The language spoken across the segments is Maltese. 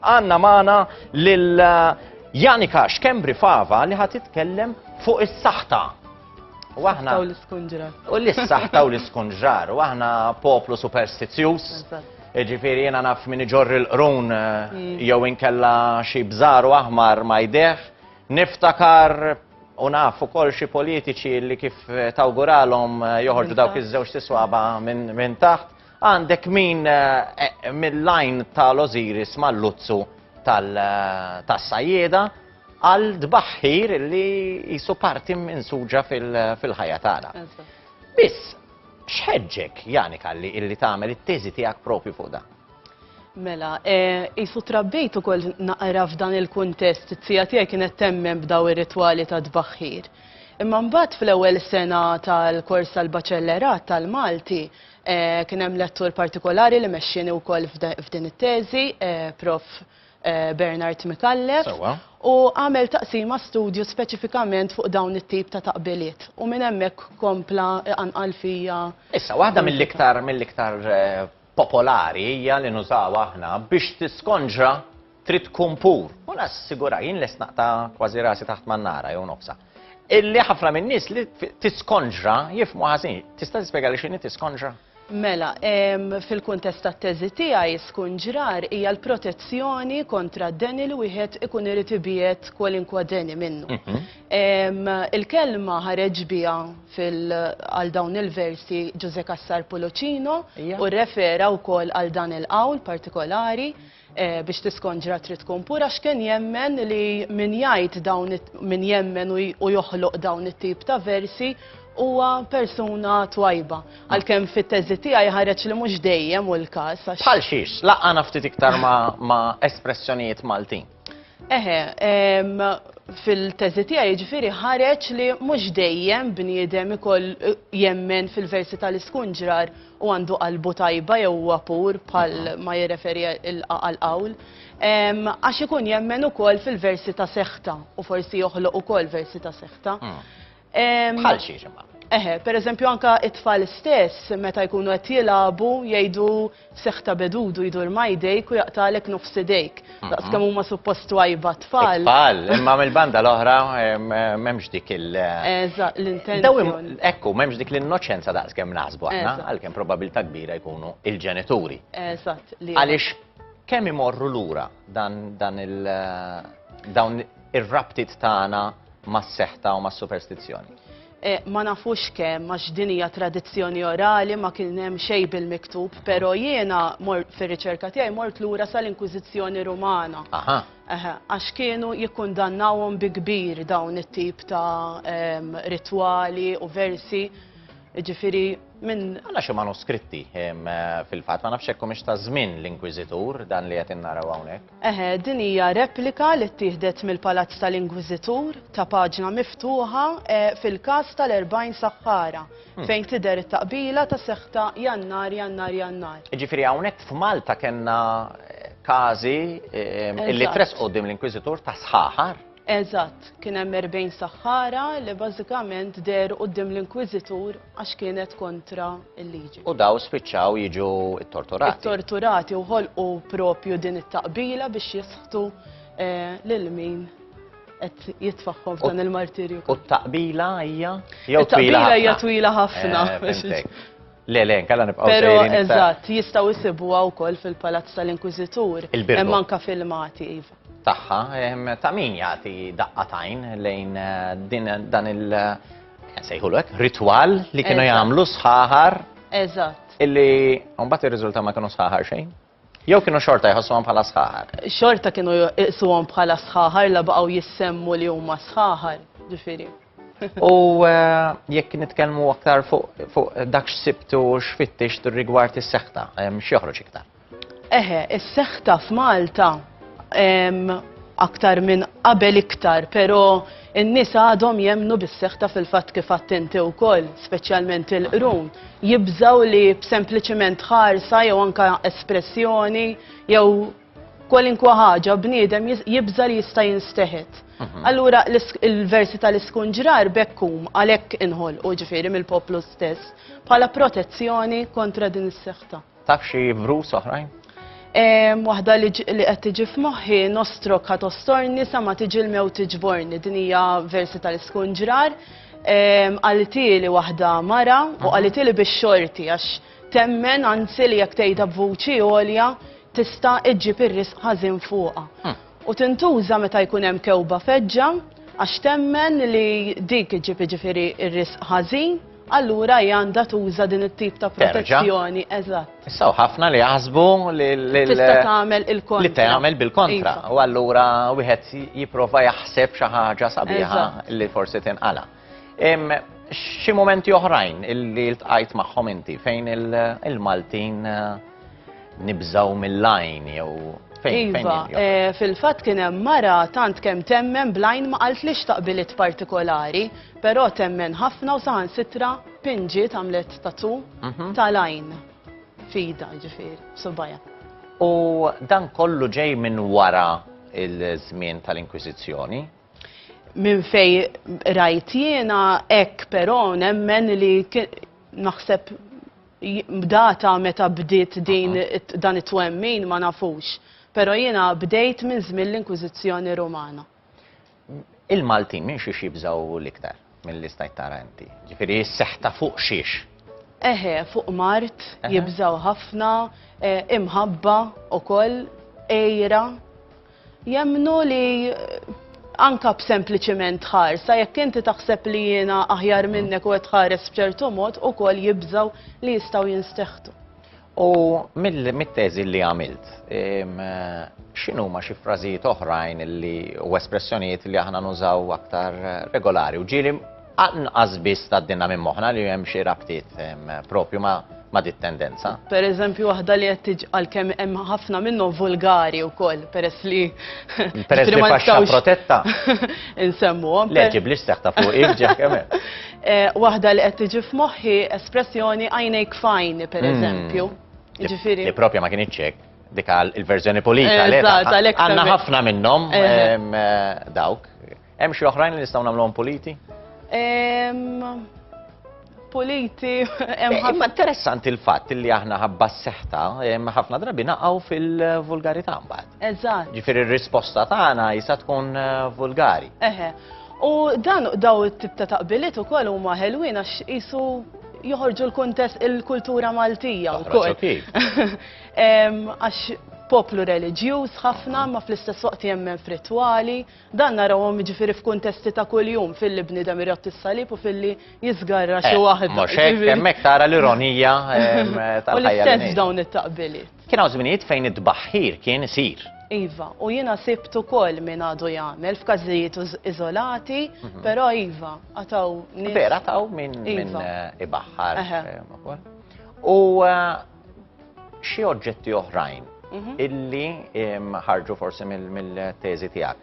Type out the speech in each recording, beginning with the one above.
Għanna magħna lil Janika Xkembri Fava li ħad titkellem fuq is-saħta U aħna. U l-iskunġrar. U l-issaħta u l-iskunġrar. U aħna poplu superstizjus. Ġifiri jena naf min iġorri l-qrun eh, mm. jew inkella xi bżaru aħmar ma jdeħ. Niftakar u naf ukoll xi politiċi li kif tawguralhom eh, joħorġu dawk iż-żewġ tiswaba minn taħt. Għandek min eh, mill-lajn tal-Oziris mal-luzzu tal-sajjeda eh, għal dbaħħir li jisu parti minn suġa fil-ħajja tagħna. Biss, xħedġek, Jani Kalli, illi tagħmel it-teżi tiegħek propju fuq dan? Mela, eh, jisu trabbejt ukoll naqra f'dan il-kuntest, it-tija tiegħi kienet temmen b'daw ir-ritwali ta' dbaħħir. Imma mbagħad fl-ewwel sena tal-kors tal-baċellerat tal-Malti, Kien hemm lettur partikolari li mexxieni wkoll f'din it-teżi, Prof. Bernard Micallef. U għamel taqsima studju speċifikament fuq dawn it-tip ta' taqbiliet. U minn hemmhekk kompla iqanqal fija. Issa, waħda mill-iktar mill-iktar popolari hija li nużawha aħna biex tiskonġra trid tkun pur. U nassigura jien lest naqta' kważi rasi taħt mannara jew nofsa. Illi ħafna minn nies li tiskonġra jifmu ħażin. Tista' tispjega li x'inhi tiskonġra? Mela, fil-kuntest tat-teżi tiegħi skunġrar hija l-protezzjoni kontra d-deni li wieħed ikun irid ibiet kwalinkwa deni minnu. Mhm. Il-kelma ħareġ biha għal dawn il-versi Ġuże Kassar Puluċino u refera wkoll għal dan il-qawl partikolari. biex tiskonġra trid tkun pura x'kien jemmen li min jgħid dawn min jemmen u joħloq dawn it-tip ta' versi huwa persuna twajba. Għalkemm fit-teżi tiegħi ħareġ li mhux dejjem hu l-każ għax. Bħal xiex? Laqqana ftit iktar ma' espressjonijiet Maltin. Eħe, fil-teżi tiegħi jiġifieri ħareġ li mhux dejjem bniedem ikoll jemmen fil-versi tal-iskunġrar u għandu qalbu tajba jew huwa pur bħal ma jirreferi għall-qawl, għax ikun jemmen ukoll fil-versi ta' seħta u forsi joħloq ukoll versi ta' seħta. Hmm. Bħal xiex imma. Eħe, per eżempju anka it-tfal stess meta jkunu qed jilagħbu jgħidu seħta bedudu jdur majdejk u jaqtalek nofs idejk. Daqs kemm huma suppost twajba tfal. Tfal, imma mill-banda l-oħra m'hemmx dik il- Eżatt, l-intenzjoni. Ekku, m'hemmx dik l-innoċenza daqs kemm naħsbu aħna, għalkemm probabilità kbira jkunu il-ġenituri. Eżatt. Għaliex kemm imorru lura dan dan il- dawn ir-rabtiet tagħna mas-seħta u mas-superstizzjoni? Ma nafux kemm għax din hija tradizzjoni orali ma kien hemm xejn bil-miktub, però jiena mort fir-riċerka tiegħi mort lura sal-Inkwiżizzjoni Rumana. Aha. Eħe, għax kienu jikkundannawhom bi kbir dawn it-tip ta' ritwali u versi, jiġifieri minn. Għandna xi manuskritti fil-fatt, ma nafx hekk humiex taż-żmien l-Inkwiżitur dan li qed innaraw hawnhekk. Eħe, din hija replika li ttieħdet mill-Palazz tal-Inkwiżitur, ta' paġna miftuħa, fil-każ tal-40 saħħara, fejn tidher it-taqbila ta' seħħ ta' Jannar, Jannar, Jannar. Jiġifieri hawnhekk f'Malta kellna każi li tressqu quddiem l-Inkwiżitur ta' sħaħar? Eżatt, kien hemm erbgħin saħħara li bażikament dehru quddiem l-inkwiżitur għax kienet kontra l-liġi. U dawn spiċċaw jiġu ttorturati. Ittorturati u ħolqu propju din it-taqbila biex jisħtu eh, lil min qed jitfaħħom f'dan il-martirju. U t-taqbila hija jew twila ħafna. hija twila ħafna. Eh, Le, le, kalla nibqaw Pero, eżatt, jistaw jisibuha wkoll fil-Palazz tal-Inkwiżitur. Il-Birgo. Hemm anka filmati, iva. tagħha, ta' min jagħti daqqa tajn lejn din dan il- sejħulu hekk, ritwal li kienu jagħmlu sħaħar. Eżatt. Illi mbagħad ir-riżulta ma kienu sħaħar xejn. Jew kienu xorta jħossuhom bħala sħaħar. Xorta kienu jqisuhom bħala sħaħar la baqgħu jissemmu li huma sħaħar, ġifieri. U eh, jekk nitkellmu aktar fuq dak x'sibtu x'fittix rigward is-seħta, x'joħroġ iktar. Eħe, is-seħta f'Malta aktar minn qabel iktar, però n-nies għadhom jemnu bis-seħta fil-fatt kif attenti wkoll, speċjalment il-qrun, jibżaw li b'sempliċiment ħarsa jew anka espressjoni jew kwalinkwa ħaġa bniedem jibża li jista' jinsteħet. Mhm. Allura il-versi tal-iskunġrar bekkum għalhekk inħol u ġifieri mill-poplu stess bħala protezzjoni kontra din is-seħta. Taf xi vrus oħrajn? Waħda li qed tiġi f'moħħi nostrok ħa tostorni sa ma tiġi l-mew tiġborni. Din hija versi tal-iskunġrar. Qalitieli waħda mara u qalitieli biex xorti għax temmen anzi li jekk tgħidha b'vuċi għolja tista' iġġib ir-risq ħażin fuqha. Hm. u tintuża meta jkun hemm kewba feġġa għax temmen li dik iġġib jiġifieri r-risq ħażin, allura hi għandha tuża din it-tip ta' protezzjoni. Terġa'. Eżatt. Issa hawn ħafna li jaħsbu li l- Tista' tagħmel il-kontra. Li tagħmel bil-kontra. Iva. U allura wieħed jipprova jaħseb xi ħaġa sabiħa Eżatt. li forsi tinqala'. Xi momenti oħrajn illi ltqajt magħhom inti fejn il-Maltin nibżaw mill-lajn jew fejn Iva, eh, fil-fatt kien hemm mara tant kemm temmen blajn ma qalt li xtaqbilit partikolari, però temmen ħafna u saħan sitra pinġi tagħmlet tatu mhm. tal-għajn fida ġifieri, subajja. U dan kollu ġej minn wara il-żmien tal-Inkwiżizzjoni? Minn fej rajt jiena hekk però nemmen li naħseb data meta bdiet din dan it-twemmin ma nafux. Però jiena bdejt minn żmien l-Inkwiżizzjoni Rumana. Il-Maltin minn xiex jibżgħu l-iktar? Mill-li stajt tara inti. Ġifiri jisseħ ta' fuq xiex. Eħe, fuq mart, jibżaw ħafna, eh, imħabba u koll, ejra. Jemnu li eh, anka b'sempliciment ħarsa, jekk inti taħseb li jiena aħjar minnek u għed ħares bċertu mod u koll jibżaw li jistaw jinsteħtu. U mit-teżi li għamilt, x'inhuma xi frażijiet oħrajn li u espressjonijiet li aħna nużaw aktar regolari. U ġieli anqas biss tgħaddilna minn moħħna li hemm xi rabtiet propju ma' ma dit tendenza. Per eżempju, waħda li qed tiġ għalkemm hemm ħafna minnhom vulgari wkoll peress li peress li faxxa protetta. Insemmuhom. Le ġiblix seħta fuq ġeħ kemm Eh, waħda li qed tiġi f'moħħi espressjoni għajnejk fajn, per hmm. eżempju. Ġifiri. Li propja ma kien iċċek, dik il-verżjoni pulita. Eh, għanna ħafna minnhom eh, dawk. Hemm xi oħrajn li nistgħu nagħmluhom puliti? Puliti, hemm ħafna. Imma interessanti l-fatt li aħna ħabba s-seħta, ħafna drabi naqgħu fil-vulgarità mbagħad. Eżatt. Ġifieri r-risposta tagħna jista' tkun vulgari. Eħe. U dan daw it-tip ta' taqbiliet ukoll huma ħelwin għax qisu joħorġu l-kuntest il-kultura Maltija wkoll. Għax poplu reliġjuż ħafna ma fl-istess waqt jemmen f'ritwali, dan narawhom jiġifieri f'kuntesti ta' kuljum filli bniedem irott is-salib u filli jiżgarra xi eh, waħda. Mhux hekk hemmhekk tara l-ironija tal-ħajja. U l-istess dawn it-taqbiliet. Kien hawn żminijiet fejn it-tbaħħir kien isir. Iva, u jiena sibt ukoll min għadu jagħmel f'każijiet uż- iżolati, Mhm. però iva, għataw nies. Vera taw minn min Iva. eh, ibaħħar. Eħe. eh, ukoll. U eh, xi oġġetti oħrajn Mhm. illi em, ħarġu forsi mill- mill-teżi tiegħek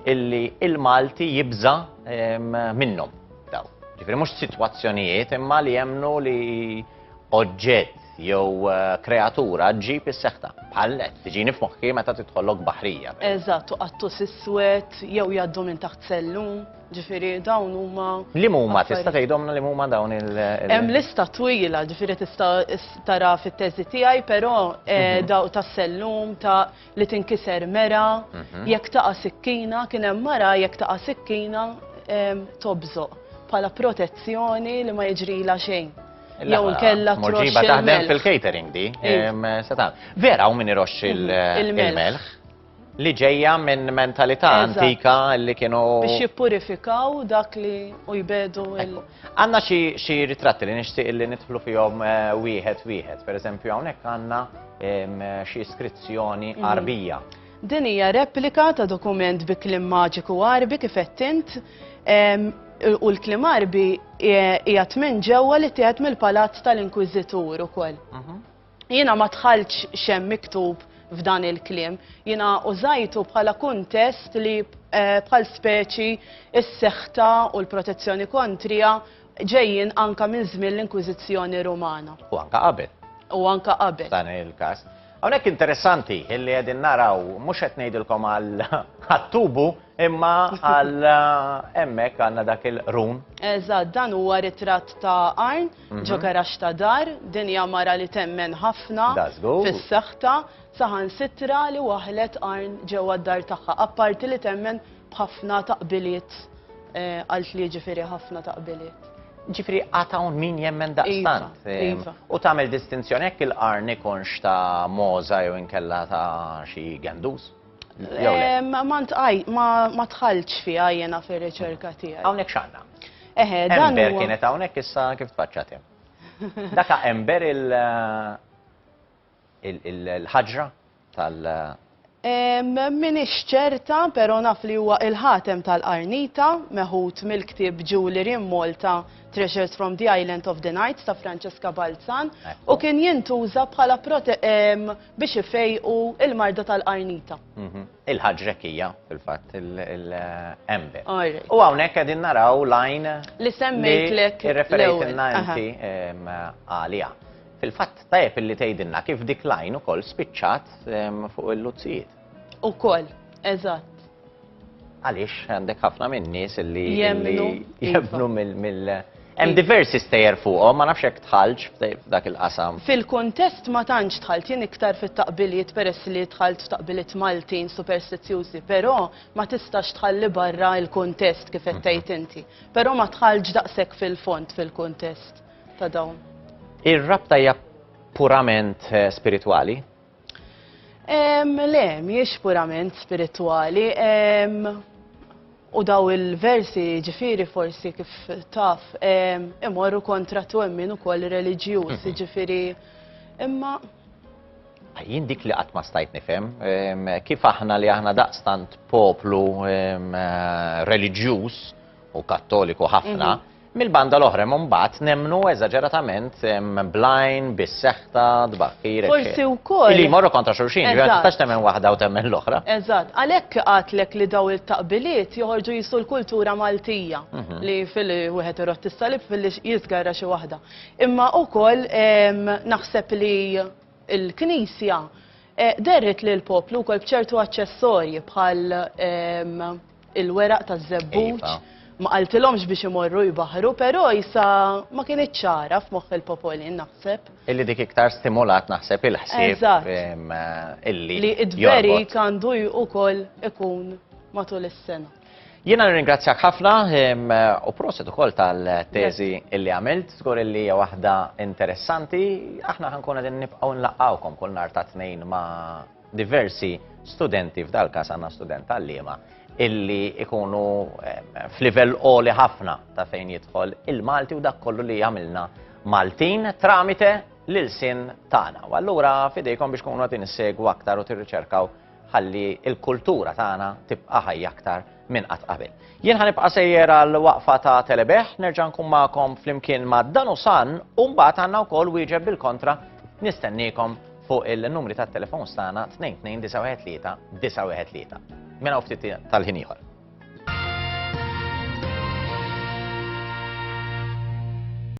illi il-Malti jibża em, minnhom daw. Ġifieri mhux sitwazzjonijiet imma li jemnu li oġġett jew kreatura ġġib is-seħta. Bħal net, tiġini f'moħħi meta tidħollok baħrija. Eżatt, u qattus iswed jew jgħaddu minn taħt sellu, ġifieri dawn huma. Li huma tista' tgħidhomna li huma dawn il. Hemm lista twila, ġifieri tista' tara fit-teżi tiegħi, però mhm. daw tas-sellum ta' li tinkiser mera, mhm. jekk taqa' sikkina, kien hemm mara jekk taqa' sikkina tobżoq bħala protezzjoni li ma jiġrila xejn. Jew nkella troxxa. taħdem fil-catering di. Vera u min iroxx mhm. il-melħ li ġejja minn mentalità antika li kienu. Biex jippurifikaw dak li u jbedu il- Għandna xi xi ritratti li nixtieq li nidħlu fihom eh, wieħed wieħed. Per eżempju hawnhekk għandna em, xi iskrizzjoni Mhm. Arbija. Din hija replika ta' dokument bi klim maġiku Arbi kif qed int em, u l-klim Arbi hija tmien ġewwa li tieħed mill-palazz tal-Inkwiżitur ukoll. Mhm. Jiena ma dħaltx xem miktub f'dan il-kliem. Jiena użajtu bħala kuntest li eh, bħal speċi s-seħta u l-protezzjoni kontrija ġejjin anka minn żmien l-Inkwiżizzjoni Rumana. U anka qabel. U anka qabel. Dan il-każ. Hawnhekk interessanti illi qegħdin naraw mhux qed ngħidilkom għal tubu imma għal eh, hemmhekk għandna dak il-run. Eżatt, dan huwa ritratt ta' Arn ġo garaxx ta' dar, din hija mara li temmen ħafna fis-saħħtha, saħansitra li waħlet qarn ġewwa d-dar tagħha, apparti li temmen b'ħafna taqbiliet, qalt li jiġifieri ħafna taqbiliet. Ġifieri għad hawn min jemmen daqstant. Iva, iva. U tagħmel distinzjoni jekk il-qarn ikunx ta' mogħża jew inkella ta' xi gendus? Ma tħalċ fija jena fil-riċerka tijaj. Għawnek xanna. Eħe, dan. Ember kienet għawnek issa kif tfaċċatem. Daka ember il- il-ħagġra tal- Min ċerta, pero naf li huwa il-ħatem tal-qarnita, meħut mill-ktib Julie Rim Malta Treasures from the Island of the Night ta' Francesca Balzan, u kien jintuża bħala biex ifejqu il-marda tal-qarnita. Il-ħaġrek hija, fil-fatt, il-embe. U hawnhekk qegħdin naraw lajn li semmejtlek irreferejtilna inti għalija. Fil-fatt tajjeb illi tgħidilna kif dik lajn ukoll spiċċat fuq il-luzzijiet. Ukoll, eżatt. Għaliex għandek ħafna minn nies li jemmnu iva. mill Hemm iva. diversi stejjer fuqhom, ma nafx hekk tħallx f'dak il-qasam. Fil-kuntest ma tantx tħalt jien iktar fit-taqbiliet peress li tħalt f'taqbiliet Maltin superstizzjużi, però ma tistax tħalli barra il-kuntest kif qed mhm. tgħid inti. Però ma tħallx daqshekk fil-font fil-kuntest ta' dawn. Ir-rabta hija purament eh, spiritwali? Le, miex purament spirituali. U daw il-versi ġifiri forsi kif taf imorru kontra twemmin ukoll reliġjuż, mhm. ġifiri imma jien dik li qatt ma stajt nifhem kif aħna li aħna daqstant poplu reliġjuż u kattoliku ħafna mhm. Mill-banda l-oħra hemm imbagħad nemmnu eżaġeratament blajn, bis-seħta, tbaħħir. Forsi wkoll. Li jmorru kontra xulxin, ma tistax temmen waħda u temmen l-oħra. Eżatt, għalhekk qatlek li daw il-taqbiliet joħorġu jisu l-kultura Maltija mhm. li fil wieħed irod tissalib fil jisgarra xi waħda. Imma wkoll naħseb li l-Knisja eh, derret li l-poplu wkoll bċertu aċċessorji bħal il-weraq taż-żebbuġ, ma qaltilhomx biex imorru jbaħħru, però isa ma kinitx ċara f'moħħ il-popolin naħseb. Illi dik iktar stimolat naħseb il-ħsieb illi. Li id-dverik għandu ukoll ikun matul is-sena. Jiena nirringrazzjak ħafna u proset ukoll tal-teżi illi għamilt, żgur illi hija waħda interessanti, aħna ħankun qegħdin nibqgħu nlaqgħukom kull nhar ta' tnejn ma' diversi studenti, f'dal-każ għandna student għalliema, illi ikunu eh, f'livell qoli ħafna ta' fejn jidħol il-Malti u dak kollu li jagħmilna Maltin tramite l-sin tagħna. U allura fidejkom biex kunu għatin segwu aktar u tirriċerkaw ħalli il-kultura tagħna tibqa' ħajja aktar minn qatt qabel. Jien ħanibqa' sejjer għal waqfa ta' telebeħ, nerġa' nkun magħkom flimkien ma' dan u san u mbagħad għandna wkoll wieġeb bil-kontra nistenniekom fuq il-numri tat-telefons tagħna 22-913-913. Mela u ftit tal-ħin ieħor.